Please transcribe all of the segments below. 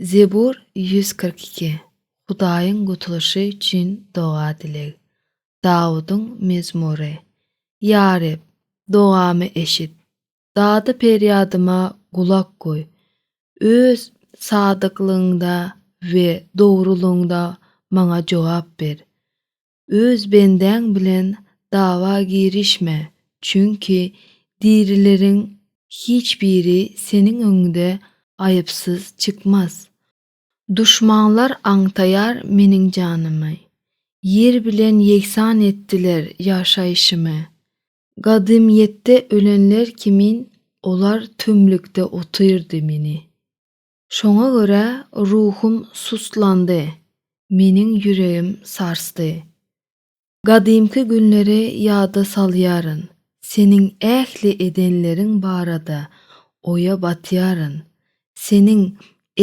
Zebur ýüz kyrk iki, Hudaýyň gutulyşy üçin doga-dileg. Dawudyň mezmury. Ýa Reb, dogamy eşit, dady-perýadyma gulak goý, Öz sadyklygyňda we dogrulygyňda maňa jogap ber. Öz bendäň bilen dawa girişme, çünki dirileriň hiç biri seniň öňüňde aýypsyz çykmaz. Duşmanlar aňtaýar meniň janymy, ýer bilen ýegsan etdiler ýaşaýşymy. Gadymyýetde ölenler kimin olar tümlükde otyrdy meni. Şoňa görä ruhum sustlandy, meniň ýüregim sarsdy. Gadymky günleri ýada salýaryn, seniň ähli edenleriň barada oýa batýaryn, seniň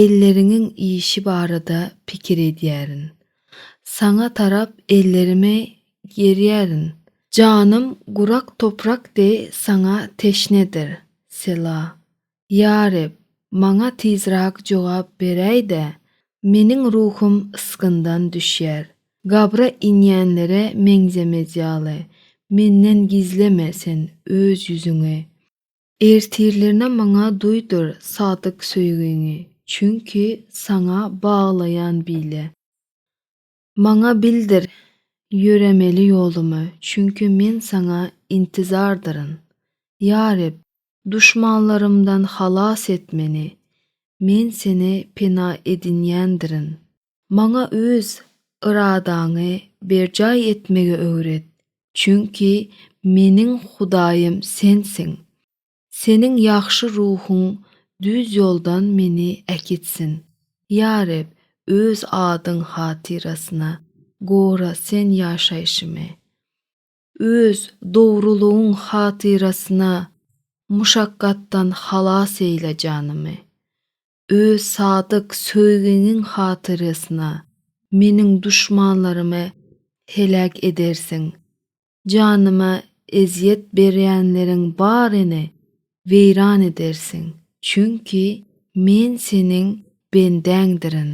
elleriňiň işi barada pikir edýärin. Saňa tarap ellerimi gerýärin. Janym gurak toprak deý saňa teşnedir. Sela. Ýa Reb, maňa tizrak jogap beräý-de, meniň ruhum ysgyndan düşýär. Gabra inýänlere meňzemez ýaly, menden gizleme Sen Öz ýüzüňi. Ertirlerine maňa duýdur sadyk söýgiňi, çünki Saňa baglaýan bile. Maňa bildir, ýöremeli ýolumy, çünki men Saňa intizardyryn. Ýa Reb, duşmanlarymdan halas et meni, men Seni pena edinýändirin. Maňa Öz yradaňy berjaý etmegi öwret, çünki meniň Hudaýym Sensiň. Seniň ýagşy ruhuň düz ýoldan meni äkitsin. Ýa Reb, Öz adyň hatyrasyna, gora Sen ýaşaýşymy. Öz dogrulygyň hatyrasyna, muşakgatdan halas eýle janymy. Öz sadyk söýgiňiň hatyrasyna, meniň duşmanlarymy heläk edersiň. Janyma ezýet berýänleriň baryny weýran edersiň, çünki Men Seniň bendäňdirin.